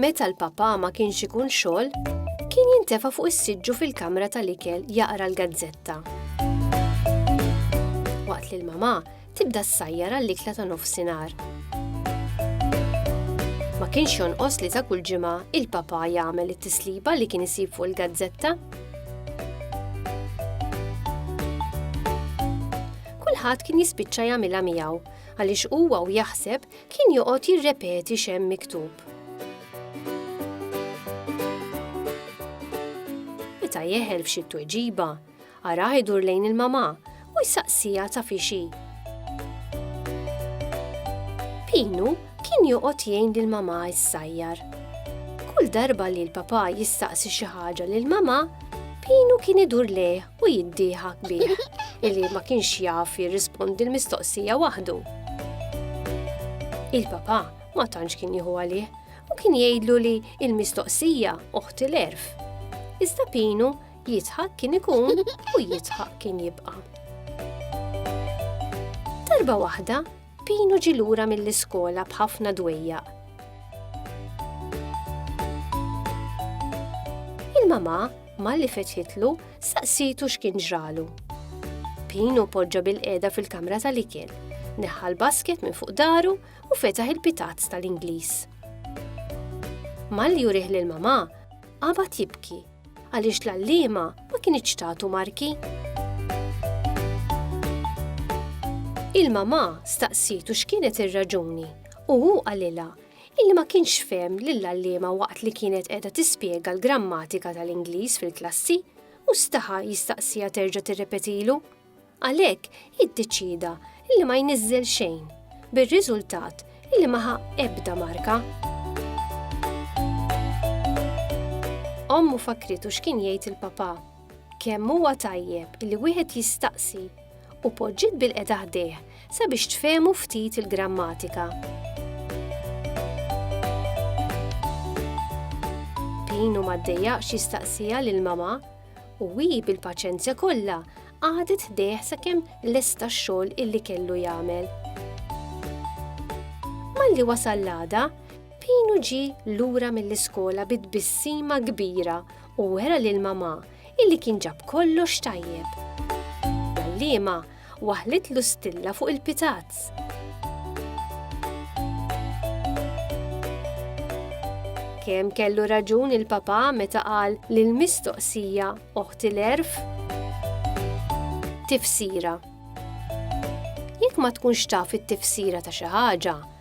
Meta l-Papà ma kienx ikun xogħol, kien jintefa' fuq is-siġġu fil-kamra tal-ikel jaqra l-gazzetta. Waqt li l-Mamà tibda ssajjar għall-ikla ta' nofsinhar. Ma kienx jonqos li ta' kull ġimgħa il-Papà jagħmel it-tisliba li kien isib fuq il-gazzetta. Kulħadd kien jispiċċa jagħmilha miegħu għaliex huwa u jaħseb kien joqgħod jirrepeti x'hemm miktub. Meta jeħel f'xi tweġiba, araħ idur lejn il-mamà u jsaqsija ta' fixi. Pinu kien joqgħod jgħin lil mamà issajjar. Kull darba li l-papà jistaqsi xi ħaġa lil mamà, Pinu kien idur lejh u jiddieħak bih illi ma kienx jaf jirrispondi l-mistoqsija waħdu. Il-papa ma tantx kien jieħu għalih u kien jgħidlu li il-mistoqsija oħti l-erf. Iżda Pinu jitħak kien ikun u jitħak kien jibqa'. Darba waħda Pino ġie lura mill-iskola b'ħafna dwejjaq. Il-mama, malli fetħitlu, saqsitu x'kien ġralu. Pino poġġa bil-qeda fil-kamra tal-ikel, neħħa l-basket minn fuq daru u fetaħ il-pitazz tal-Ingliż. Malli jurih lil mama, qabad jibki Għaliex l-għalliema ma kinitx tagħtu marki. Il-mamà staqsitu x'kienet ir-raġuni u hu qalilha illi ma kienx fem lill-allima waqt li kienet qiegħda tispjega l-grammatika tal-Ingliż fil-klassi u staħa jistaqsija terġa' tirrepetilu. Għalhekk iddeċieda li ma jniżżel xejn, bir-riżultat li ma ħa ebda marka. Ommu fakritu x'kien jgħid il-papà. Kemm huwa tajjeb li wieħed jistaqsi u poġġiet bil-qeda ħdejh sabiex tfehmu ftit il-grammatika. Pinu ma ddejjaqx jistaqsija lil mama U hi bil-paċenzja kollha qagħdet ħdejh sakemm lesta x-xogħol illi kellu jagħmel. Malli wasal l-għada, Pinu ġi lura mill-iskola bi tbissima kbira u wera lil mamà illi kien ġab kollox tajjeb. L-għalliema waħlitlu stilla fuq il-pitazz. Kemm kellu raġun il-papa meta qal li l-mistoqsija oħti l-erf? Tifsira. Jekk ma tkunx taf it-tifsira ta' xi ħaġa,